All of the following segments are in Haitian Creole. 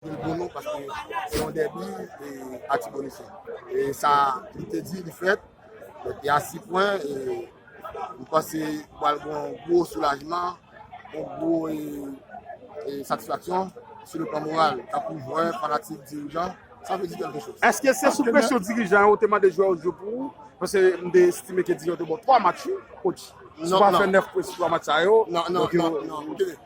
Pou l pou nou paske se yon dèbi e Atibonit e sa li te di li fèt e a si pwen e m panse pral gen yon gwo soulajman yon gwo e satisfaksyon sou le plan moral tankou jwè, fanatik, dirijan sa vle di kèlke choz. Eske se sou presyon dirijan yo te mande jwè yo jwe pou ou? Paske m te estime ke dirijan yo te ba w 3 match wi coach si w pa fè 9 pwen sou 3 match sa yo non non non non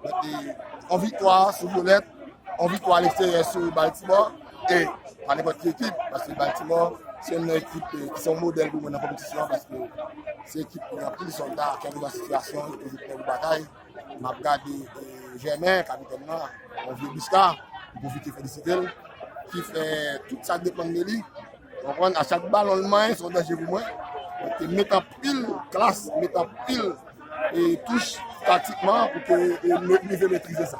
Kote yon viktwa sou Vyolèt, yon viktwa aleksteryè sou Baltimò, e pa nenpòt ki ekip, paske Baltimò se yon nan ekip ki se yon modèl pou mwen nan konpetisyon, paske se ekip ki gen anpil sòlda, ki anpil nan sitiyasyon, ki toujou prè pou batay. M ap gade Jèmen, kapitèn nan, yon vye biska, m pwofite felisite l, ki fè tout sa k depann de li. Konprann, a chak balon l manyen, se yon danje pou mwen. Li te met anpil klas, li te met anpil. touch taktikman pou ke nou rive metrize sa.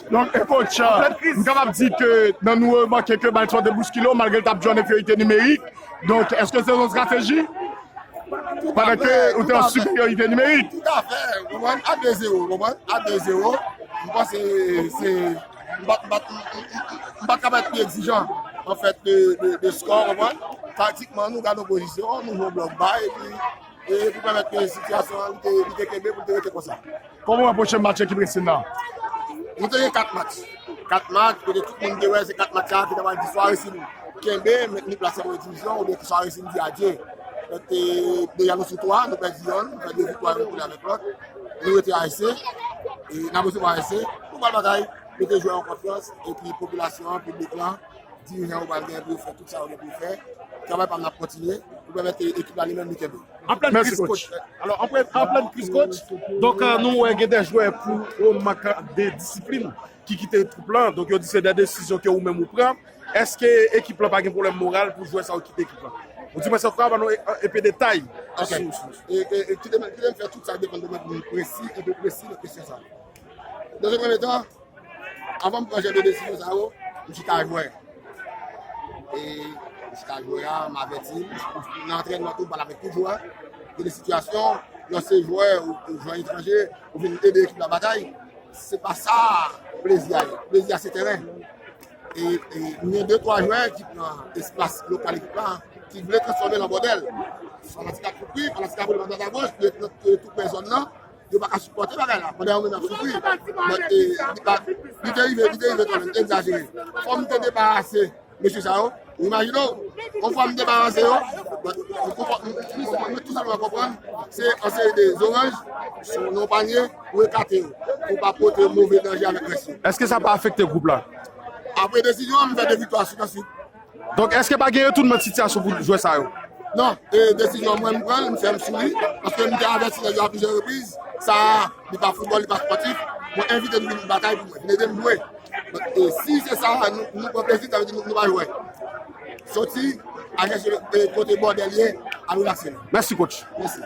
Donk e coach, m kapab di ke nan nou remake ke bal sòt e bouskile w malgre l tap jwe an enferyorite nimerik, donk eske se yon estrateji? Pandan ke ou te an siperyorite nimerik. Toutafè, ou konprann, a 2 zero, ou konprann, a 2 zero, m panse se, m pa, m pa, m pa kapab pi egzijan an fèt de skò, ou konprann, taktikman nou gadon pozisyon, nou jwe blòk ba epi. e pou pèmèt ke sitiyasyon an li te kenbe pou l te rete konsa. Kòman w wè pwochen match ekip Racing nan? Nou te gen 4 match, 4 match kote tout moun te wè se 4 match sa a ki ta pral di swa Racing kenbe, mentni plas li an premye divizyon oubyen ki swa Racing di adye. Paske deja nou sou 3, nou pèdi yonn, nou fè 2 viktwa nou koule avèk lòt, nou rete a ese, n ap resevwa a ese, nou pral batay, mete jwè yo an konfyans, epi popilasyon an, piblik lan. Dirijan yo pral genyen pou yo fè tout sa yo gen pou yo fè. Travay pa m nan ap kontinye pou pèmèt ke ekip la li menm li kenbe. Anplèn kriz kotch, alò anplèn kriz kotch, donk nou wè gen de jwè pou yon mank de disiplin ki kite twoup lan, donk yo di se de desizyon ke ou menm ou pran, èske ekip lan pa gen pwoblèm moral pou jwè sa yo kite ekip lan? Ou di mwen sa, ou ka ban nou enpe detay sou. Ok, kite m fè tout sa depann de mwen pou m presi, enpe presi nan kesyon sa. Dans un premier temps, avan m pran jan de desizyon sa yo, m chita jwè. E m chita jwè a, m avèti, nan antrènman tou m pale avèk tout jwè, gen de sitiyasyon, lè se jwè ou jwè etranje, ou vin ede ekip la batay, se pa sa plezi a ye. Plezi a se tèren. E m gen de twa jwè ki pran espas lokal ekip la, ki vle transfòme l an bòdèl. Fanatik ap kouri, fanatik ap vole a dwat a goch, yo tou pre zòn nan. Yo pa ka sipòte bagay la pandan yo menm ap soufri. But e li pa li te rive li te rive kanmenm egzajere. Fò m te debarase mesye sa yo, ou imajine w yon fwa m debarase yo but m konpò m konprann mwen tou sèlman konprann se yon seri de zoranj nan yon panye pou ekate yo pou pa pote move danje avèk rès yo. Eske sa pa afekte gwoup la? Apre desizyon an m fè 2 viktwa swit an swit. Donk eske pa gen retounman sitiyasyon pou jwè sa yo? Non, e desizyon mwen m pran l, m fèm sou li, paske m te avèti nèg yo a plizyè repriz, sa a li pa foutbòl, li pa spòtif, mwen envite nou vin batay pou mwen, vin ede m jwe. Donk e si se sa a nou pran plezi, sa vle di nou pa jwè. Soti a gen sou kote bòdè l ye, al relakse nou. Mèsi coach. Mèsi.